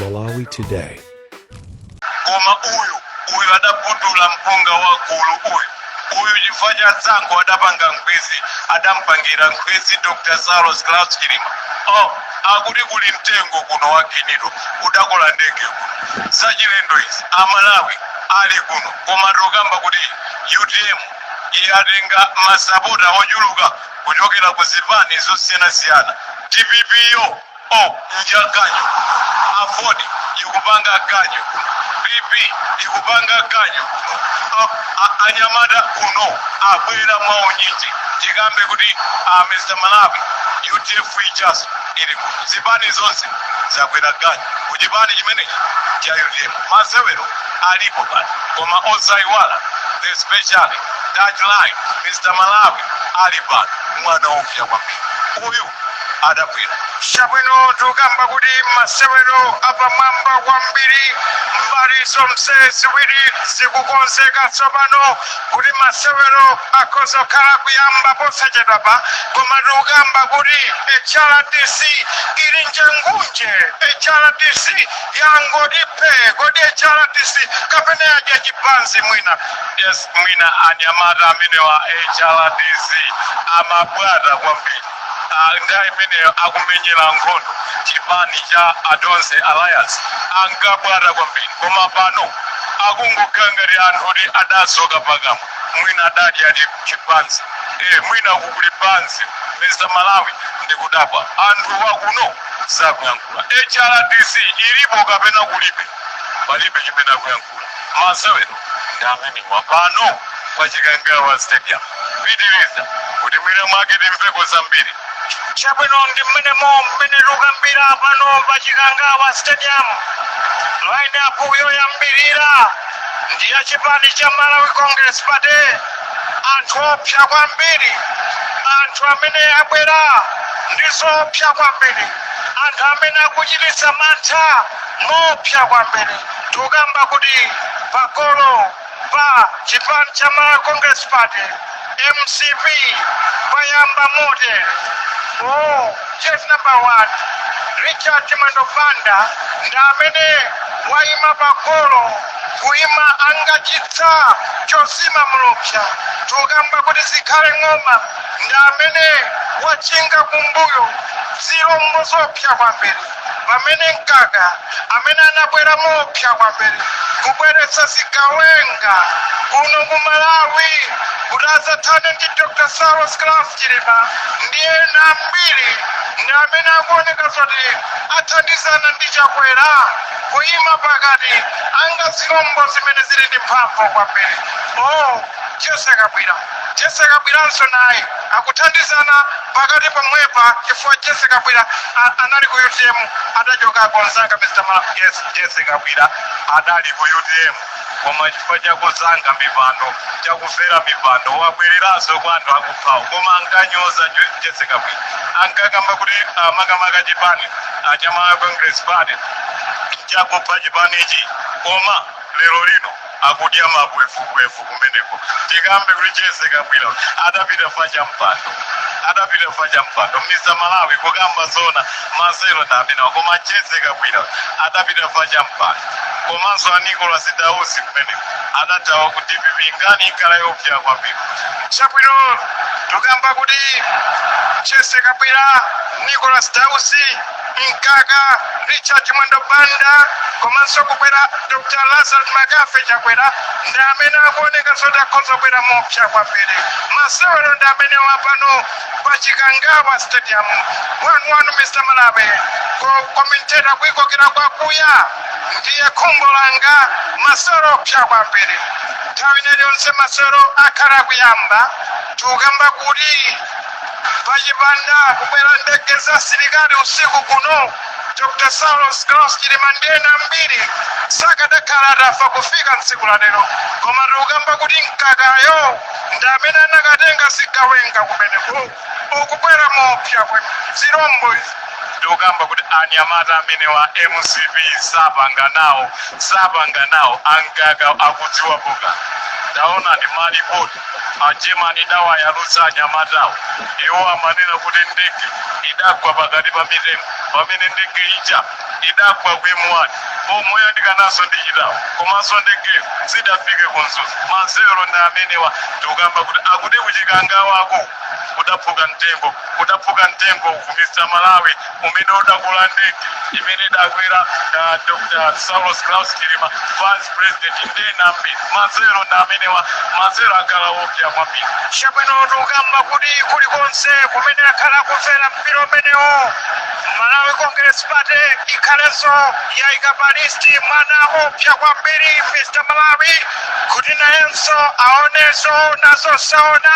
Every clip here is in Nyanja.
Malawi Today. koma uyu uyu adaputula mpunga wa gulu uyu uyu chifukwa cha tsankho adapanga nkhwezi adampangira nkhwezi dr saulos klaus chilima oh akuti kuli mtengo kuno wa ginito udakola ndege kuno zachilendo izi amalawi ali kuno koma tokamba kuti utm yatenga masapota ochuluka kuchokera ku zipani zosiyanasiyana, dpp yo oh nja ganyu, aford ikupanga ganyu, PP ikupanga ganyu kuno, a, a, anyamata kuno abwera mwaunyinji tikambe kuti a Mr. Malawi UTM ichaso ili kuno, zipani zonse zakwera ganyu ku chipani chimenechi cha UTM. Masewero alipo pano, koma osayiwala especially that line Mr. Malawi ali pano mwana woofya kwambiri uyu adabwera chabwino tokamba kuti masewero apamwamba kwambiri mbali zonse ziwiri zikukonzeka tsopano kuti masewero akhoza kukhala kuyamba posachedwapa koma tukamba kuti hrdc ili njengunje hrdc yangoti phe kodi hrdc kapena yadya chibanzi mwina yes mwina anyamata amenewa hrdc amabwata kwambiri Ah, nthawi imeneyo akumenyera nkhondo chipani cha a tonse alliance ankabwata kwambiri koma pano akungokhala ngati anthu oti adasoka pakamwa mwina adadya chibanzi eh, mwina kukuli pansi mr malawi ndikudabwa anthu wakuno sakuyankhula hrdc ilipo kapena kulibe palibe chimene akuyankhula masewero ndi amenewa pano pa chikangawa stadium pitiriza kuti mwina mwake timveko zambiri chabwino ndi mmenemo mmene tukambira pano pa chikangawa stadium line up yoyambirira ndi ya chipani cha malawi congress party anthu oopsa kwambiri anthu amene abwera ndi zoopsa kwambiri anthu amene akuchititsa mantha moopsa kwambiri. Tukamba kuti pagolo pa chipani cha Malawi Congress Party, mcp, payamba motere. Oh, jersey number one, Richard Chimwendo Banda ndi amene waima pagolo kuima ngati chitsa chozimamo lupsa tukamba kuti Zikhale Ng'oma ndi amene wachinga kumbuyo zilombo zoopsa kwambiri pamene mkaka amene anabwera mopsa kwambiri kubweretsa zigawenga kuno ku malawi kuti adzathane ndi dr saulos klaus chilima ndi ena ambiri ndi amene akuoneka zoti athandizana ndi chakwera kuyima pakati anga zilombo zimene zili ndi mphamvu kwambiri o jessie kabwila Jessie Kabwilanso naye akuthandizana pakati pomwepa chifukwa Jessie Kabwila anali ku utm adachokako nzanga Mr Malawi. Yes Jessie Kabwila adali ku utm koma chifukwa cha kuzanga mipando cha kufera mipando wabwereranso kwa anthu akuphawo koma ankanyoza Ju- Jessie Kabwila ankakamba kuti ah, makamaka chipani ah, cha Malawi Congress Party chakupha chipanichi koma lero lino akudya mabwevubwevu kumeneko tikambe kuti jessie kabwila adapita fa cha mpando adapita fa cha mpando mr malawi kukamba zoona masewero ndi amenewa koma jessie kabwila adapita fa cha mpando komanso a nicholas dausi kumeneko adathawa ku dpp nkhani ikhala yopsa kwambiri chabwino tukamba kuti jessie kabwila nicholas dausi Mkaka, Richard Chimwendo Banda komanso kubwera Dr. Lazarus McCarthy Chakwera ndi amene akuoneka zoti akhoza kubwera mopsa kwambiri. Masewero ndi amenewa pano pa Chikangawa Stadium 1-1 Mr. Malawi kukomentera kuikokera kwakuya ndiye khumbo langa masewero opsa kwambiri. Nthawi ina iliyonse masewero akhala akuyamba tikukamba kuti Pachipanda kubwera ndege za asilikali usiku kuno, Dr. Saulos Klaus Chilima ndi ena ambiri sakadakhala atafa kufika tsiku la lero. Koma tikukamba kuti mkakayo ndi amene anakatenga zigawenga kumeneko akubwera moopsa kwambiri zilombo izi tikukamba kuti anyamata amenewa a mcp sapanga nawo sapanga nawo ankaka akudziwa buka taona ndi malipoti A German idawayalutsa anyamatawo. Iwo amanena kuti ndege idagwa pakati pa mitengo pamene ndege ija idagwa ku M1 moyandikananso ndi Chitawo komanso ndege sidafike ku Mzuzu. Masewero ndi amenewa tikukamba kuti akuti kuchikangawaku kudaphuka mtengo kudaphuka mtengo ku Mr Malawi umene udakola ndege imene idakwera uh, dr saulos klaus chilima vice president ndi ena ambiri masewero ndi amenewa masewero akhala opya kwambiri chabwino tikukamba kuti kulikonse kumene akhala akumvera mpira umenewo malawi congress party ikhalenso yaika pa listi mwana opya kwambiri mr malawi kuti nayenso aone zoona zosaona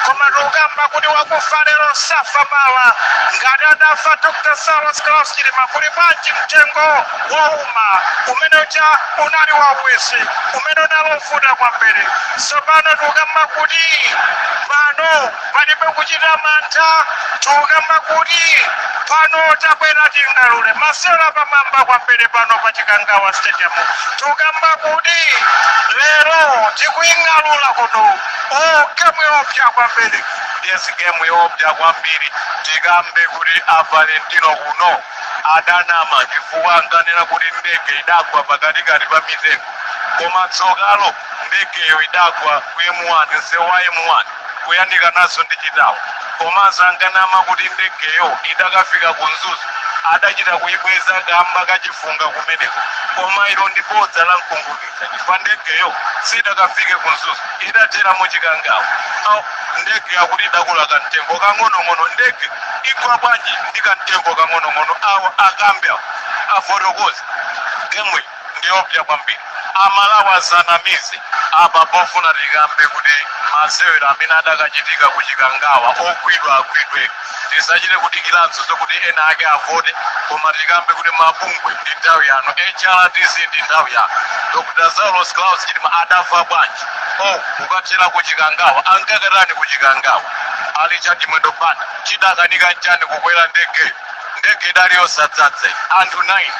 koma tikukamba kuti wakufa lero safa mawa ngati adafa dr saulos klaus chilima kuli bwanji mtengo wouma umene uja unali wauwisi umene unali wovuta kwambiri tsopano tikukamba kuti pano Palibe kuchita mantha tikukamba kuti pano tabwera ting'alule masewero apamwamba kwambiri pano pa Chikangawa Stadium. Tikukamba kuti lero tikuying'alula kuno. Oh, gemu yopya kwambiri. Yes, gemu yopya kwambiri. Tikambe kuti a Valentino kuno adanama chifukwa ankanena kuti ndege idagwa pakatikati pa mitengo koma tsokalo Ndegeyo idagwa ku M1, msewu wa M1, kuyandikanaso ndi Nthungwa. Komanso ankanama kuti ndegeyo idakafika ku Mzuzu adachita kuibweza kamba ka chifunga kumeneko. Koma ilo ndi bodza la nkunkhuniza chifukwa ndegeyo sidakafike ku Mzuzu, idathera mu Chikangawa. Au, Ndege akuti idagunda kamtengo kang'onong'ono. Ndege igwa bwanji ndi kamtengo kang'onong'ono? Awa akambe afotokoze. Gemu. ndiopya kwambiri amalawi asanamize apa pofuna tikambe kuti masewero amene adakachitika ku chikangawa ogwidwa agwidwe tisachite kudikiranso zokuti ena ake avote koma tikambe kuti mabungwe ndi nthawi yanu hrdc ndi nthawi yanu dr saulos klaus chilima adafa bwanji o kukathera ku chikangawa ankakatani ku chikangawa richard chimwendo banda chidamukanika nchani kukwera ndege ndege idali yosadzadza iyi. anthu 9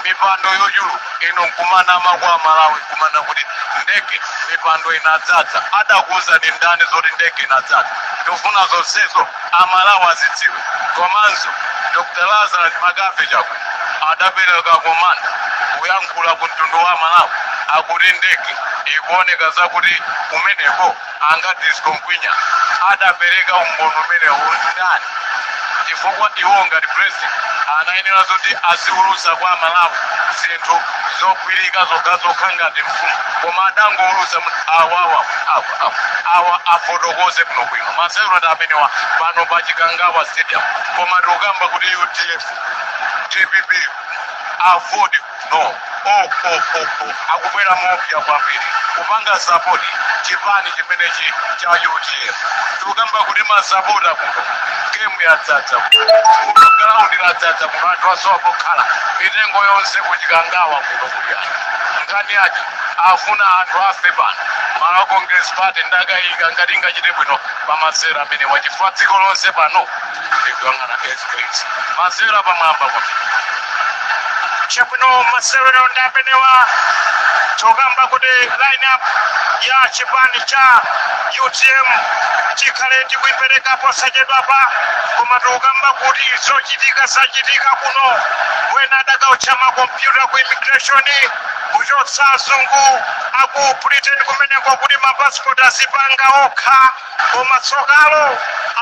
mipando yochuluka inu nkumanama kwa amalawi kumanama kuti ndege mipando inadzadza adakuuza ndi ndani zoti ndege inadzadza tufuna zonsezo amalawi azidziwe komanso dr lazarus makathe chakwe adapereka komanda kuyankhula ku mtundu wa amalawi akuti ndege ikuoneka zakuti kumeneko a Ngadzitsko Ngwinya adapereka umboni umenewo ndani chifukwa iwo ngati president anayenera zoti aziwulusa kwa amalawi zinthu zogwirika zokhazokha ngati mfumu koma adangowulusa mu- awawa awa awa- awa afotokoze bwino bwino masewerotu amenewa pano pa chikangawa stadium koma tikukamba kuti udf dpp afodi no okokoko akubwera mopya kwambiri kupanga sapoti chipani chimenechi cha utm tikukamba kuti masapota kuno gemu yadzadza kuno galaundi ladzadza kuno anthu asowa pokhala mitengo yonse kuchikangawa kuno kukuwa nkhani yake afuna anthu ave pano malawi congress party ndakayika ngati ingachite bwino pamasewera amenewa chifukwa dziko lonse pano ndikuyang'ana skc masewero apamwamba kwambiri chabwino masewero ndi amenewa tikukamba kuti lineup ya chipani cha utm tikhale tikuipereka posachedwapa koma tikukamba kuti zochitika zachitika kuno wena adakaotcha makompyuta ku immigration kuchotsa azungu aku britain kumeneko kuti mapasipoti azipanga okha Koma tsokalo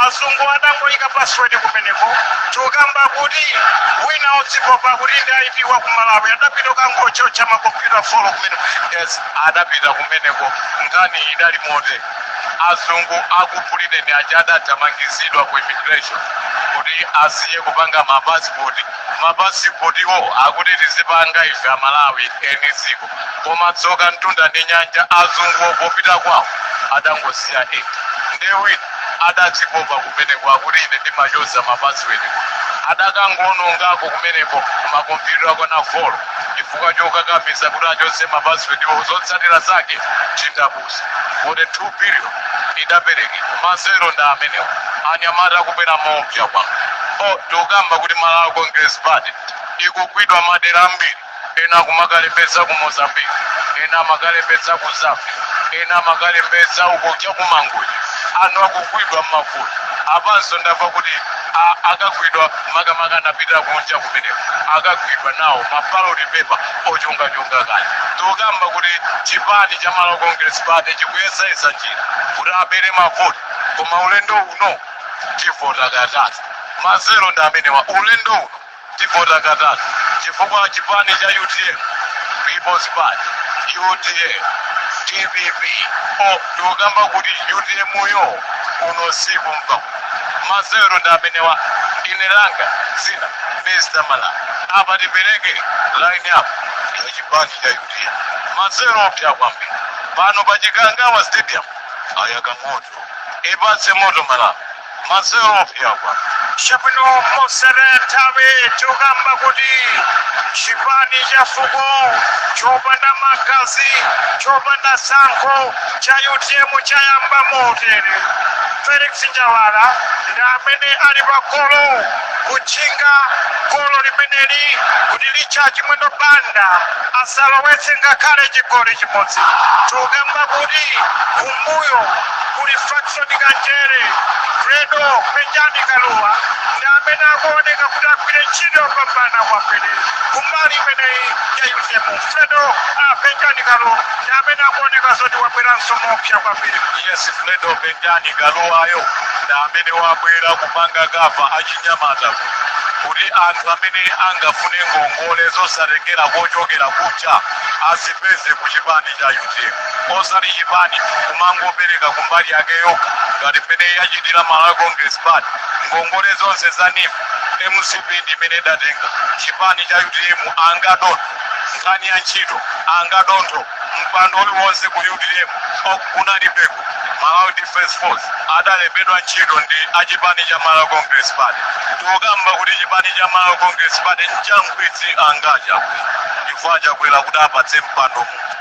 azungu adangoika password kumeneko tikukamba kuti wina odzipopa kuti ndi IP wa ku Malawi adapita kukangootcha ma computer folo kumeneko yes adapita kumeneko nkhani idali motere azungu aku britain aja adathamangizidwa ku immigration kuti asiye kupanga mapasipoti mapasipotiwo akuti tizipanga ife amalawi eni dziko koma tsoka mtunda ndi nyanja azunguwo popita kwawo adangosiya eti ndiye wina adadzipopa kumeneko akuti ine ndimachotsa mapasiwedi adakangoonongako kumeneko makompyuta okwana folo chifukwa chokakamiza kuti achotse mapasiwediwo zotsatira zake chindapusa 42 billion idaperekedwa masewero ndi amenewo anyamata akubera moopsa kwambiri o tikukamba kuti malawi congress party ikugwidwa madera ambiri ena akumakalembetsa ku mozambique ena amakalembetsa ku zambia ena amakalembetsa uko cha kumangochi anthu akugwidwa m'mavoti apanso ndamva kuti a- akagwidwa makamaka anapitira kunja kumeneko akagwidwa nawo mabaloti pepa ochongachonga kale tikukamba kuti chipani cha malawi congress party chikuyesayesa njira kuti abere mavoti koma ulendo uno tivota katatu masewero ndi amenewa ulendo uno tivota katatu chifukwa chipani cha utm peoples party udf dpp o tikukamba kuti utm yo kuno siku mpa masewero ndi amenewa ine langa dzina mr mala apa tipereke line up ya chipani cha utm masewero oopsa kwambiri pano pa chikangawa stadium ayaka moto ipatse moto malawi Masewero oopsa chabwino mosataya nthawi tikukamba kuti chipani cha fuko chopanda magazi chopanda tsankho cha utm chayamba motere felix njawala ndi amene ali pa golo kutchinga golo limeneli kuti richard chimwendo banda asalowetse ngakhale chigoli chimodzi tikukamba kuti kumbuyo kuli fax ndi kanjere fredo penjani kaluwa ndi amene akuoneka kuti agwire ntchito yopambana kwambiri kumbali imeneyi ya utm fredo ah, penjani kaluwa ndi amene akuoneka zoti wabweranso moopsa kwambiri yes fredo penjani kaluwayo ndi amene wabwera kupanga cover achinyamata kuti anthu amene angafune ngongole zosatengera kochokera kucha azipeze ku chipani cha utm osati chipani kumangopereka kumbali yake yokha ngati mmene yachitira malawi congress party ngongole zonse za neef mcp ndi imene idatenga chipani cha utm angadontho nkhani ya ntchito angadontho mpando uliwonse ku utm okunalibeko malawi defense force adalembedwa ntchito ndi achipani cha malawi congress party tikukamba kuti chipani cha malawi congress party nchankhwidzi angacha chifukwa achakwera kuti apatse mpando mu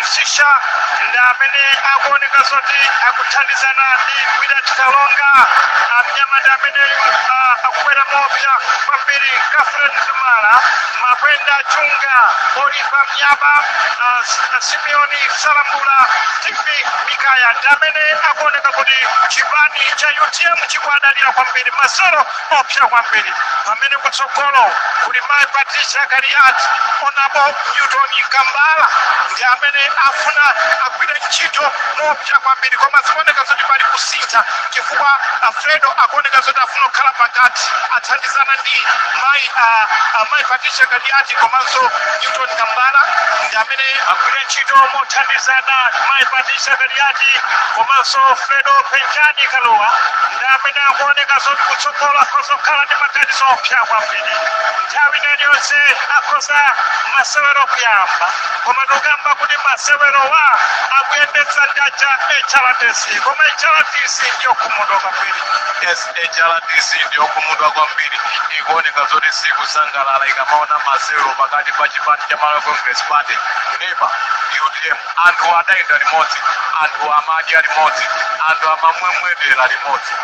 msisha ndi amene akuoneka zoti akuthandizana ndi willet kalonga amnyamata ameneyu ah, akubwera moopsa kwambiri catherine mzumara makwenda chunga olipa myaba ah, S- ah, simeoni salambula stevie mikaya ndi amene akuoneka kuti chipani cha utm chikuwadalira kwambiri masewero Oopsa kwambiri pamene kutsogolo kuli mayi Patricia Kaliati. Honourable Newton Kambala ndi amene afuna agwire ntchito moopsa kwambiri, koma zikuoneka zoti pali kusintha chifukwa a Fredo akuoneka zoti afuna kukhala pakati, athandizana ndi mayi ah, ah, mayi Patricia Kaliati komanso Newton Kambala ndi amene agwire ntchito mothandizana mayi Patricia Kaliati komanso Fredo Penjani Kaluwa. amene akuoneka zoti kutsogolo akhoza kukhala ndi maganizo oopsa kwambiri nthawi ina iliyonse akhoza masewero kuyamba koma tikukamba kuti masewerowa akuyendetsa ndi aja hrdc koma hrdc ndi yokhumudwa kwambiri yes hrdc ndi yokhumudwa kwambiri ikuoneka zoti sikusangalala ikamaona masewero pakati pa chipani cha malawi congress party neba utm anthu adayenda limodzi anthu amadya limodzi anthu amamwemwetera limodzi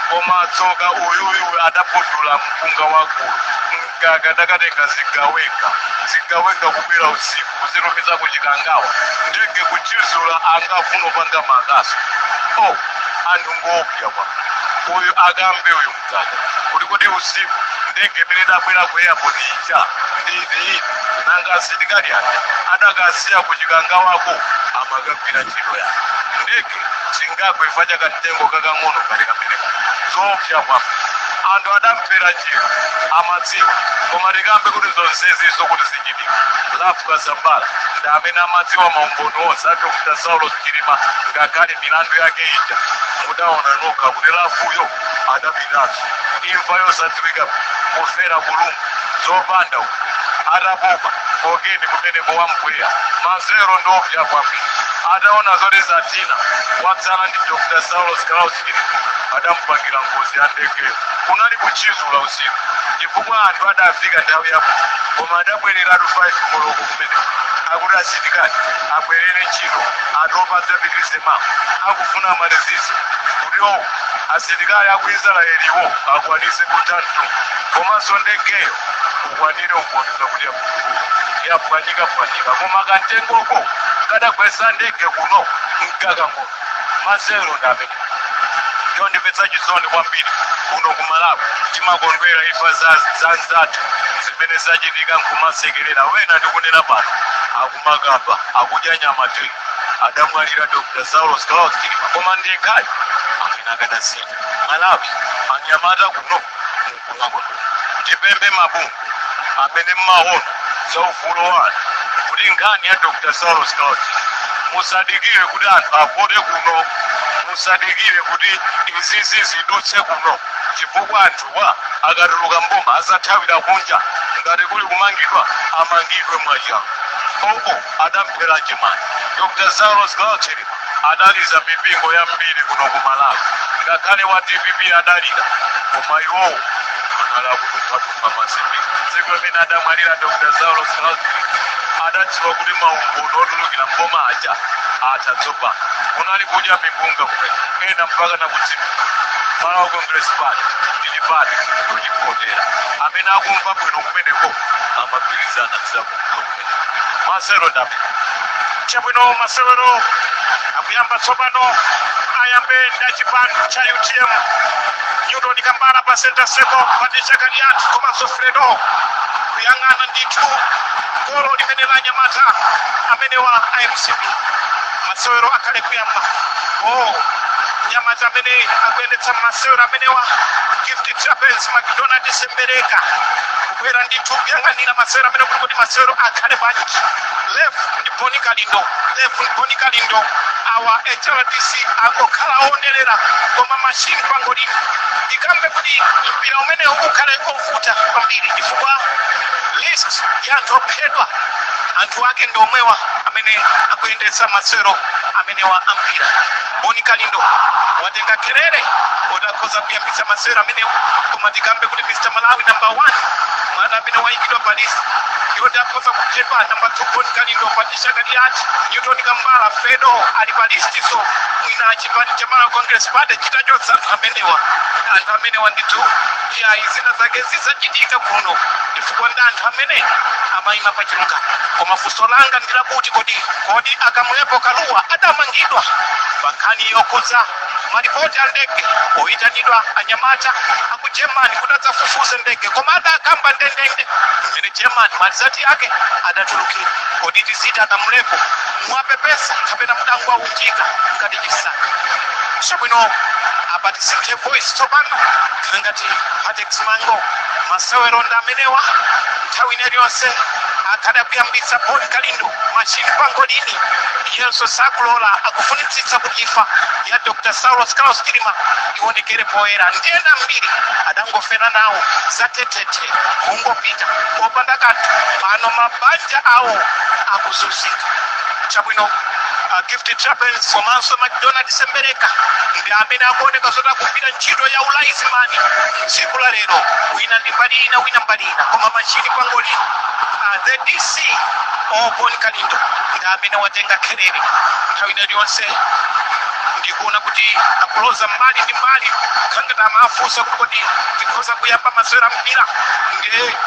koma tsoka uyuyu adaputula mpunga wagulu mkaka adakatenga zigawenga zigawenga kubwera usiku kuzitumiza ku chikangawa ndege kuchizula angafuna kupanga makaso o anthu ngoopya kwa uyu akambe uyu kuti kodi usiku ndege imene idabwera ku airport ija ndi iyi nanga asilikali aja adakasiya ku Chikangawako amakagwira ntchito yake ndege singagwe chifukwa cha kamtengo kakang'ono ngati kameneka zoopsa kwambiri anthu adamvera njira amaidziwa koma tikambe kuti zonsezizo kuti zichitike Ralph Kasambara ndi amene amadziwa maumboni onse a Dr Saulos Chilima ngakhale milandu yake ija mudaona nokha kuti Ralph-yo adapitanso imfa yosadziwika kufera ku Lodge zopanda uku atapopa cocaine kumeneko wamgwiya mazero ndoopsya kwambiri ataona zoti zatina watsala ndi Dr Saulos Klaus Chilima adamupangira ngozi ya ndege kunali kutchizula usiku chifukwa anthu adafika nthawi yako koma adabwereratu 5 koloko kumeneko akuti asilikali abwerere ntchito atopa adzapitirize mawa akufuna amalizitse kuti oku asilikali aku Israeliwo akwanise kutantu komanso ndegeyo ikwanire kukonza kuti yapwanyika pwanyika koma kamtengoko kadagwesa ndege kuno nkakang'ono mazero ndap chondimvetsa chisoni kwambiri kuno ku Malawi timakondwera imfa za za nzathu zimene zachitika nkumasekerera ena ndikunena pano akumakamba akudya nyama 3 adamwalira Dr Saulos Klaus Chilima koma ndi yekhayo amene akadasintha Malawi anyamata kuno mkumako ndipemphe mabungwe amene mmaona za ufulu wa anthu kuti nkhani ya Dr Saulos Klaus musadikire kuti anthu avote kuno musadikire kuti izizi zidutse kuno chifukwa anthuwa akatuluka m'boma azathawira kunja ngati kuli kumangidwa amangidwe mwachangu oo adamphera chiyani. Dr Saulos Klaus Chilima adaliza mipingo yambiri kuno ku Malawi, ngakhale wa DPP adalira, koma iwowo anali akudumphadumpha masipika. Tsiku limene adamwalira Dr Saulos Klaus Chilima adadziwa kuti maumboni otulukira m'boma aja atha tsopano. Kunali kudya mipunga kumene ena mpaka nakudziwa Malawi Congress Party ndi chipani chochipotera. Amene akumva bwino kumeneko amagwirizana ndi za mazero ndap chabwino masewero akuyamba tsopano ayambe ndi chipani cha UTM Newton Kambala pa center circle Patricia Kaliati komanso Fredo kuyang'ana ndithu golo limene la anyamata amenewa a MCP masewero akhale kuyamba oh anyamata amene akuyendetsa masewero amenewa Gift Trapence McDonald Sembereka Bwera ndithu kuyang'anira masewero amene kuli kuti masewero akhale bwanji. Lef ndi Boni Kalindo, Lef ndi Boni Kalindo. Awa HRDC angokhala onerera koma machine pangolini. Tikambe kuti mpira umene ukhale ovuta kwambiri chifukwa list ya anthu ophedwa anthu ake ndi omwewa amene akuyendetsa masewero amenewa ampira. boni kalindo watenga kherere kuti akhoza kuyambitsa masewero amenewa koma tikambe kuti mr malawi number one mwana amene wayikidwa pa list yoti akhoza kuphedwa number two boni kalindo patricia kaliati newton kambala fredo ali pa listiso mwina chipani cha malawi congress party chitachotsa anthu amenewa anthu amenewa ndithu Iyayi zina zake zidzachitika kuno chifukwa ndi anthu amene amayima pa chilungamo. Koma funso langa ndi lakuti kodi a Kamlepo Kalua adamangidwa pa nkhani yokhudza malipoti a ndege oyitanidwa anyamata a ku German kuti adzafufuze ndege koma adakamba ndendende mmene German malizati ake adatulukira. Kodi tiziti a Kamlepo muwapepesa kapena mudangwawu? kuchitika ngati chisanu chabwino apa tisinthe voice tsopano khala ngati patex mango masewero ndi amenewa nthawi ina iliyonse akhale akuyambitsa boni kalindo machini pangolini iyenso sakulola akufunitsitsa kuti imfa ya dr saulos klaus chilima ionekere poyera ndi ena ambiri adangofera nawo zatetete kungopita popanda kanthu pano mabanja awo akuzunzika chabwino uh, gift trapence komanso macdonald sembereka ndi amene akuoneka zoti akugwira ntchito ya ulayizimani tsiku la lero wina ndi mbali ina wina mbali ina koma machini pangolini uh, the dc o boni kalindo ndi amene watenga kherere nthawi ina iliyonse ndikuona kuti akuloza mbali ndi mbali khangati amafunsa kuti kodi tikhoza kuyamba masewero a mpira ndiye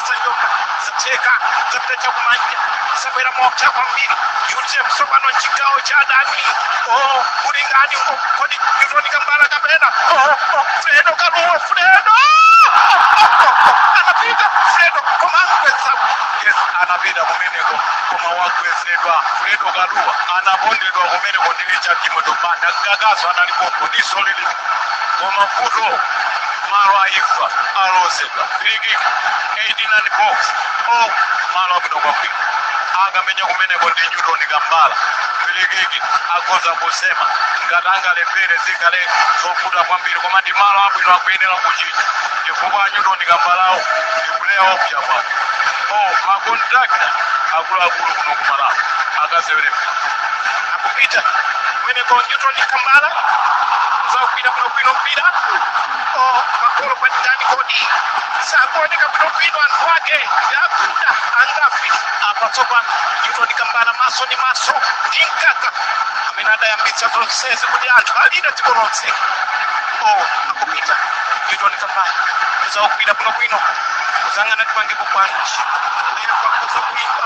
sanyoka zitheka zapita chakumanja zabwera mopsa kwambiri utm tsopano mchigawo cha adani o kuli ndani uko kodi newton kambala kapena o o fredo kaluwa fredo anapita fredo koma angweza yes anapita kumeneko koma wagwezedwa fredo kaluwa anapondedwa kumeneko ndi richard chimwendo banda mkakaso analipopo ndi solili koma vuto malo a imfa alozedwa frikiki 89 box o malo abwino kwambiri akamenya kumeneko ndi newton kambala frikiki akhoza kusema ngati angalephere zikhale zovuta kwambiri koma ndi malo abwino akuyenera kuchita chifukwa newton kambalawo ndi player oopsa o makontrakta akuluakulu kuno kumalawi akasewere akupita kumeneko newton kambala zakupita bwinobwino mpira o makolo kwa ndani kodi sakuoneka bwinobwino anthu ake akuda angafi apa tsopano newton kambala maso ndi maso ndi mkaka amene adayambitsa zonsezi kuti anthu alira dziko lonse o akupita newton kambala zakupita bwinobwino kuzangana tipangepo bwanji lero pakuza kuimba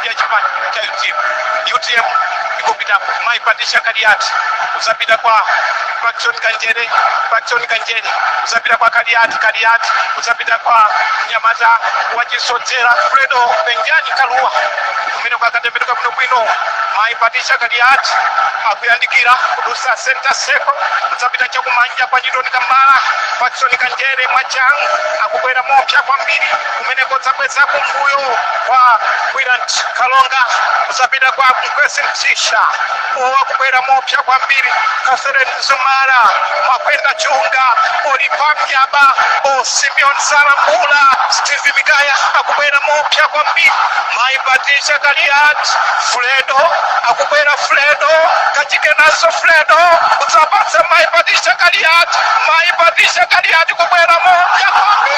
ya chipani cha utm utm ikupitapo mayi patricia kaliati kuzapita kwa patson kanjere patson kanjere kuzapita kwa kaliati kaliati kuzapita kwa nyamata wachisodzera fredo penjani kaluwa kumene kwakatembenuka bwino bwino mayi patricia kaliati akuyandikira kudutsa center circle kudzapita chakumanja kwa newton kambala patson kanjere mwachangu akubwera mopsa kwambiri kumeneko kudzabweza kumbuyo kwa Willet Kalonga kuzapita kwa Mkwesi Msisha akubwera mopya kwambiri Catherine Mzumara Makwenda Chunga Olipa Myaba o Simeon Salambula Steve Mikaya akubwera mopya kwambiri Mai Patricia Kaliati Fredo akubwera Fredo kachike nazo Fredo kudzapatsa Mai Patricia Kaliati Mai Patricia Kaliati kubwera mopya kwambiri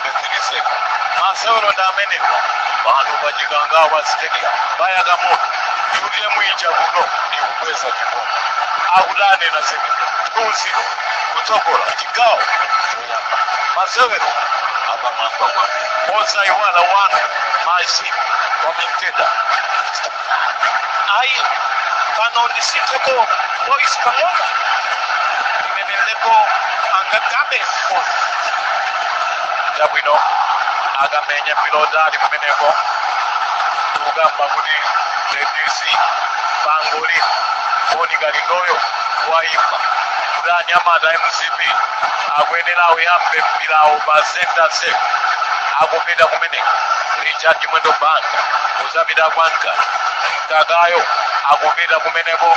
Mbeziliseka masewero ndi amenewa pano pa chikangawa stadium payaka moto UTM ija kuno ikukweza chikombe akuti anena zimene two zero kutsogola chigawo choyamba masewero apamwamba kwake osayiwala wanu machine commentator ayi pano ndisitheko boys pang'ono imeneleko angagabe moni chabwino akamenya mpira otali kumeneko kukamba kuti ndc pangoli boni kalindoyo waimba kuti anyamata a mcp akuyenera auyambe mpirawo pa center circle akupita kumeneko richard chimwendo banda zapita kwa mkaka mkakayo akupita kumeneko